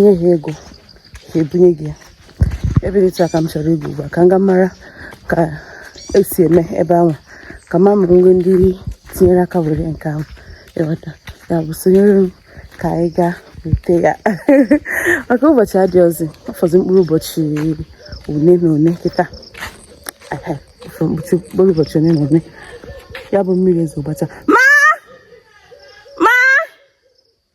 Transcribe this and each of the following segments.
nye ha ego ha ebunye gị ya ebe dị etu a ka m chọrọ ịga ugbu a ka m ga mara ka esi eme ebe ahụ ka m ma ma e nwee ndị tinyere aka were nke ahụ ịghọta ya bụ sonyere m ka anyị gaa weta ya maka ụbọchị adịrọzi ọ fọzi mkpụrụ ụbọchị one na one kịta mkpụrụ ụbọchị one na one ya bụ mmiri ezo gbacha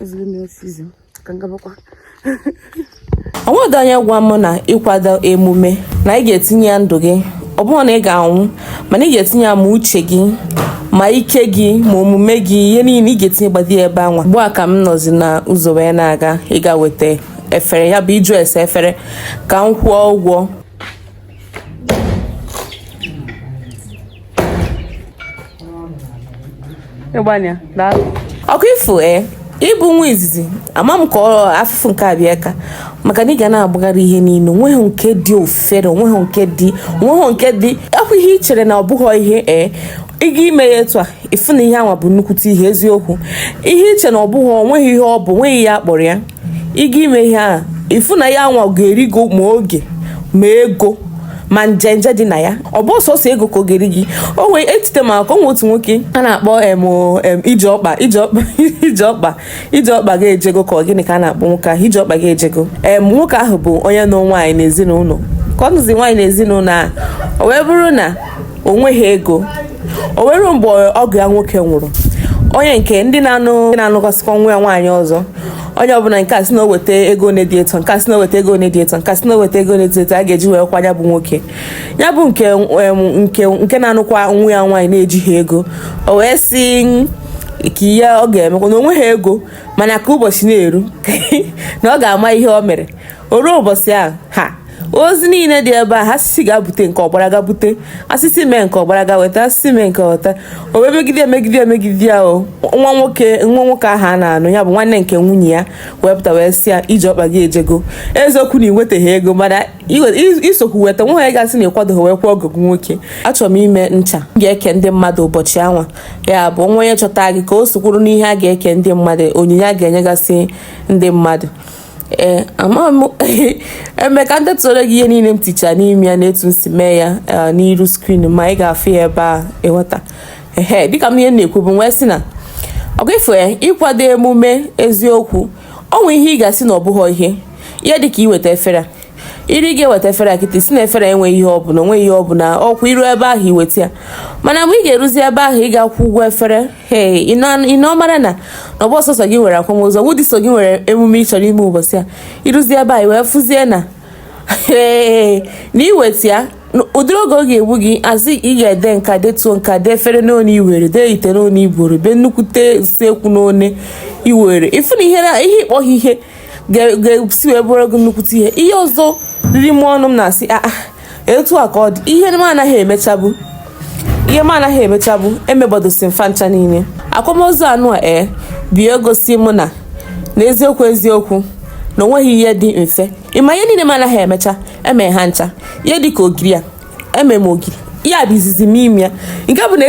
ezigbo mmiri sịzị ka m gabakwa onweghị onye gwa m na ịkwado emume na ị ga-etinye ya ndụ gị ọ bụrọ na ị ga-anwụ mana ị ga-etinye ya ma uche gị ma ike gị ma omume gị ihe niile ị ga-etinye gbadi ya ebe anwa ugbu a ka m nọzi na ụzọ wee na-aga ịga weta efere ya bụ ịjụ ese efere ka m kwụọ ụgwọ ọkwa ịfụ e eh? ịbụ nwa izizi ama m ka ọ afụfụ nke abịa ka maka na ị ga na-agbagharị ihe niile onweghị nke dị ofere onweghị nke dị onweghị nke dị ọkwa ihe ị chere na ọ bụghị ihe ee eh? ịga ime ya etu a ịfụ na ihe anwa bụ nnukwute ihe eziokwu ihe ị chere na ọ bụghị onweghị ihe ọ bụ onweghị ihe a kpọrọ ya ị ga ime ihe a ịfụ na ihe anwa ga-eri gị ma oge ma ego ma njenje dị na ya ọ bụrọ sọsọ ego ka ọ ga-eri gị o wee echete m akụkọ anwa otu nwoke a na-akpọ em o, em, ije ọkpa ije ọkpa ije ọkpa ije ọkpa ga-ejego ka ọ gịnị ka a na-akpọ nwoke ahụ ije ọkpa ga-ejego em nwoke ahụ bụ onye nụ nwaanyị n'ezinụlọ ka ọ nụzi nwaanyị n'ezinụlọ a o wee bụrụ na o nweghị ego o wee ruo mgbe ọgọ ya nwoke nwụrụ onye nke ndị na-anụ ndị na-anụkọsịkwa nwa ya nwaanyị ọzọ onye ọbụla nke a sị na o weta ego na-edi eto nke a sị na o weta ego na-edi eto nke a sị na o weta ego na-edi eto a ga-eji wee kwa ya bụ nwoke ya bụ nke nke nke na-anụkwa nwa ya nwaanyị na-ejighị ego o wee sị kee ihe ọ ga-emekwa na onweghị ego mana ka ụbọchị na-eru na ọ ga-ama ihe o mere o ruo ụbọchị ahụ ha ozi niile dị ebe ahụ a sị sị gaa bute nke a ọ gbara gaa bute a sị sị mee nke a ọ gbara gaa weta a sị sị mee nke a weta o wee megide emegide emegide ya o nwa nwoke nwa nwoke ahụ a na-anụ ya bụ nwanne nke nwunye ya wee pụta wee sị ya iji ọkpa gị ejego eziokwu na iweteghị ego mana i sokwu weta onweghị onye ga-asị na ị kwadoghị wee kwaa ọgọ gị nwoke achọrọ m ime ncha m ga-eke ndị mmadụ ụbọchị anwa ya bụ nwa onye chọta gị ka o sokwuru n'ihe a ga-eke ndị mmadụ onyinye a ga-enyegasị ndị mmadụ ee ama m eme ka m detuoro gị ihe niile m ticha n'ime ya na etu m si mee ya eh, n'iru screen ma ị ga-afụ ya ebe a ịghọta ehe dịka m ihe na-ekwubu wee sị na ọkwa ịfụ ya ịkwado emume eziokwu onweghị ihe ị ga-asị na ọ bụghị ihe ihe dịka iweta efere iri ga-eweta efere kịta ị sị na efere enweghị ihe ọbụla onweghị ihe ọbụla ọkwa i ruo ebe ahụ i weta ya mana mgbe ị ga-eruzi ebe ahụ ị ga-akwụ ụgwọ efere ee ị na-ọmara na ọ bụghọ sọsọ gị nwere akwamozu ọ bụghị sọ gị nwere emume ị chọrọ ime ụbọchị a i ruzie ebe anyị wee fụzie na ee na iweta ya ụdịrị oge ọ ga-egbu gị azụ ị ga-ede nka detuo nka dee efere n'one iwere dee ite n'one iburu dee nnukwute usekwu n'one iwere ị fụ na ihe ihe ị kpọghị ihe ga-esi wee bụrụ gị nnukwute ihe ihe ọzọ riri m ọnụ m na-asị aa ah, ah. etu a ka ọ dị ihe m anaghị emechabu ihe m anaghị emechabu emegbadosi m fa ncha niile akwamozu anụ a ee bịa gosi mụ na n'eziokwu eziokwu na o nweghị ihe dị mfe ị ma ihe niile m anaghị emecha eme ha ncha ihe dị ka ogiri a eme m ogiri ihe a bụ izizi m ime ya nke bụ na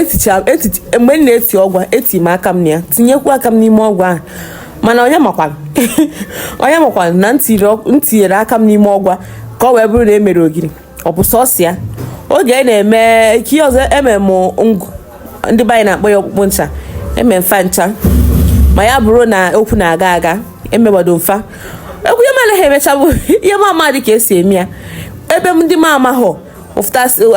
mgbe m na-eti ọgwa eti m aka m na ya tinyekwu aka m n'ime ọgwa ahụ mana onye makwanụ onye makwanụ na m tinyere aka m n'ime ọgwa ka ọ wee bụrụ na e mere ogiri ọ bụ sọsọ ya oge anyị na-eme ihe ọzọ emere m ngụ ndị be anyị na-akpọ ya ọkpụkpụ ncha eme m fa ncha ma ya bụrụ na okwu na-aga aga emegbado m fa ekwu ihe m anaghị emechabu ihe m ama dị ka e si eme ya ebe ndị m amaghọ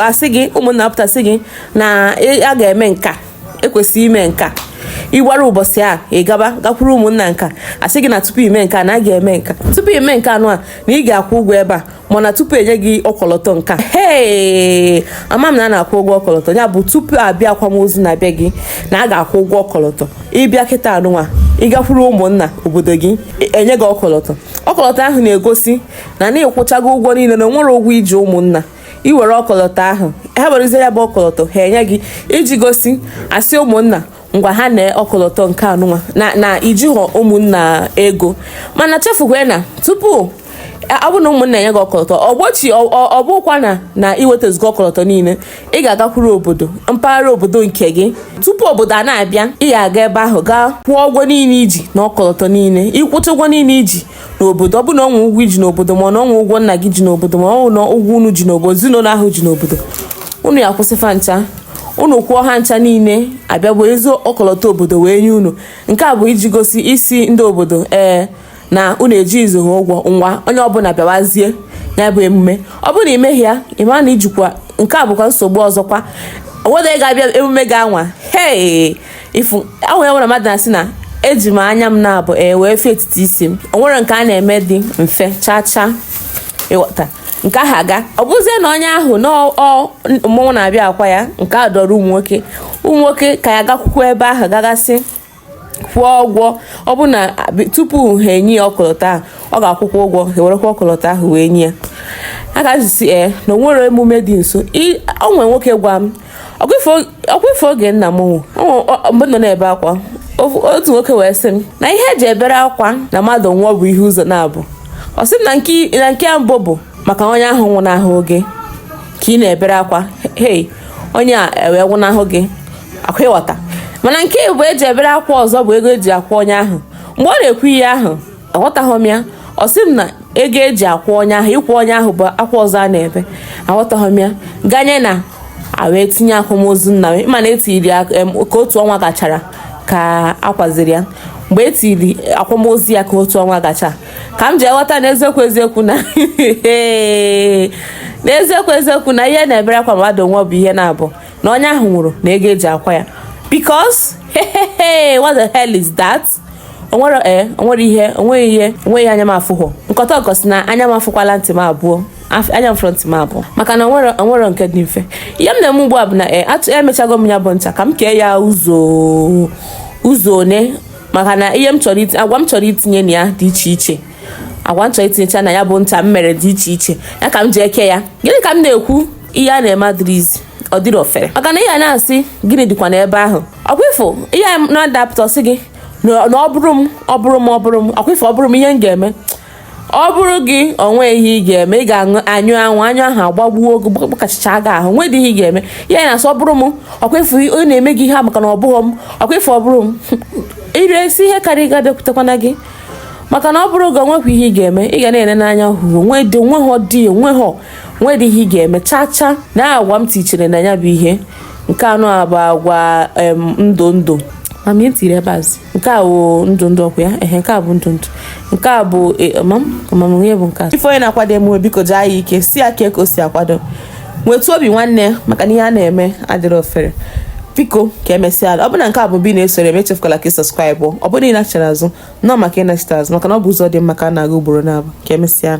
a sị gị ụmụnna pụta sị gị na a ga-eme nka ekwesịghị ime nke a ịgbara ụbọchị a ị gaba gakwuru ụmụnna nka a sị gị na tupu ime nke a na a ga-eme nka tupu ime nke anụ a na ị ga-akwụ ụgwọ ebe a mana tupu e nye gị ọkọlọtọ nka ee ama m na a na-akwụ ụgwọ ọkọlọtọ ya bụ tupu a bịa akwamozu na-abịa gị na a ga-akwụ ụgwọ ọkọlọtọ ị bịa kịta anụnwa ị gakwuru ụmụnna obodo gị e, enye gị ọkọlọtọ ọkọlọtọ ahụ na-egosi na na ị kwụchago ụgwọ niile na o nwerọ ụgwọ i ji ụmụnna i were ọkọlọtọ ahụ ha werezie ya bụ ọkọlọtọ ha enye gị iji gosi isi ụmụnna ngwa ha na ọkọlọtọ nke anụnwa na na i jighọ ụmụnna ego mana echefukwana tupu ọ bụ na ụmụnna enye gị ọkọlọtọ ọgbochi ọ bụkwa na na i wetazugo ọkọlọtọ niile ị ga-agakwuru obodo mpaghara obodo nke gị tupu obodo a na-abịa ị ga-aga ebe ahụ gaa kwụọ ụgwọ niile i ji na ọkọlọtọ niile ị kwụcha ụgwọ niile i ji n'obodo ọ bụ na o nwe ụgwọ i ji n'obodo ma ọ na o nwe ụgwọ nna gị ji n'obodo ma ọ na ụgwọ unu ji n'obodo ezinụlọ ahụ ji n'obodo unu ya-akwụsị fa ncha unu kwụọ ha ncha niile a bịa buzie ọkọlọtọ obodo wee nye unu nke a bụ iji gosi isi ndị obodo ee na unu ejizighọ ha ụgwọ ngwa onye ọbụla bịawazie ya bụ emume ọ bụrụ na ị meghị ya ị mara na i jikwa nke a bụkwa nsogbu ọzọkwa o nwerọ ga-abịa emume gị anwa hee ị fụ o nwe ihe mere mmadụ na-asị na eji m anya m n'abụọ wee fụ etiti isi m o nwerọ nke a na-eme dị mfe chaa chaa ịghọta nke ahụ aga ọ bụzie na onye ahụ na mmọnwụ na-abịa akwa ya nke a dịịrị ụmụ nwoke ụmụ nwoke ka ya gakwukwa ebe ahụ gagasị kwụọ ụgwọ ọ bụ na tupu ha enye ya ọkọlọtọ ahụ ọ ga-akwụkwa ụgwọ ha ewerekwa ọkọlọtọ ahụ wee nye ya a ga-ajụsi ee eh, na o nwere emume dị nso o nwe nwoke gwa m ọkwa ife oge nna m mgbe m nọ na-ebe akwa otu nwoke wee sị m na ihe eji ebere akwa na mmadụ nwụọ bụ ihe ụzọ naabọ ọ sị na nke mbụ bụ maka onye ahụ nwụnahụ gị ka ị na-ebere akwa hei onye a ewee nwụnahụ gị ọkwa ị ghọta mana nke abụọ eji ebere akwa ọzọ bụ ego eji akwa onye ahụ mgbe ọ na-ekwu ihe ahụ aghọtaghị m ya ọ sị m na ego eji akwa onye ahụ ịkwa onye ahụ bụ akwa ọzọ a na-ebe aghọtaghị m ya ganye na wee tinye akwamozu nna m ịma na etiri ya ka otu ọnwa gachara ka akwaziri ya mgbe e tiri akwamozu ya ka otu ọnwa gacha ka m ji aghọta na eziokwu eziokwu na n'eziokwu eziokwu na ihe na-ebere akwa mmadụ nwụọ bụ ihe naabọ na onye ahụ nwụrụ na ego eji akwa ya because what the hell is that? onwere ee onwere ihe onweghị ihe onweghị anya m afụhụ nkọta ọkọ si na anya m afụkwala ntị m abụọ anya m fụrụ ntị m abụọ maka na onwere onwere nke dị mfe ihe m na-eme ugbu a bụ na ee atụ emechago m ya bụ ncha ka m kee ya ụzọ ụzọ one maka na ihe m chọrọ itinye agwa m chọrọ itinye na ya dị iche iche agwa m chọrọ itinyecha na ya bụ ncha m mere dị iche iche ya ka m ji eke ya gịnị ka m na-ekwu ihe a na-eme adịrọzi ọ dịrọ ofere maka na ihe a na-asị gịnị dịkwa n'ebe ahụ ọkwa ị fụ ihe mmadụ apụta sị gị na ọ bụrụ m ọ bụrụ m ọ bụrụ m ọkwa ị fụ ọ bụrụ m ihe m ga-eme ọ bụrụ gị onwe ihe ị ga-eme ị ga-aṅụ anyụ anwụ anyụ ahụ agbagbuo gị gbakachicha gị ahụ nwee dị ihe ị ga-eme ya na-asị ọ bụrụ m ọkwa ị fụ ọ na-eme gị ihe maka na ọ bụghị m ọkwa ị fụ ọ bụrụ m ire esi ihe karịa ga-abịakwutekwana gị maka na ọ bụrụ gị onwekwa ihe ị ga-eme ị ga na-ele n'anya hụrụ onwe dị onwe ha dị onwe ha onwe dị ihe ị ga-eme chaa chaa na agwa m tichere na ya bụ ihe nke anọ a bụ agwa ndụ ndụ mama e tiri ebe azụ nke a bụ ndụ ndụ ọkwa ya ehe nke a bụ ndụ ndụ nke a bụ e, amamamụnye bụ nke a ị fụ onye na-akwado emume biko jaa ya ike si ya ka o si akwado nwetu obi nwanne maka na ihe a na-eme adịrọ ofere biko ka emesịanụ ọ bụrụ na nke a bụ mbụ ị na-esoro m echefukwala ka ị subscribe ọ bụrụ na ị nachara azụ nnọọ maka ịnachite azụ maka na ọ bụ ụzọ dị mma ka a na-aga ugboro naabọ ka emesịa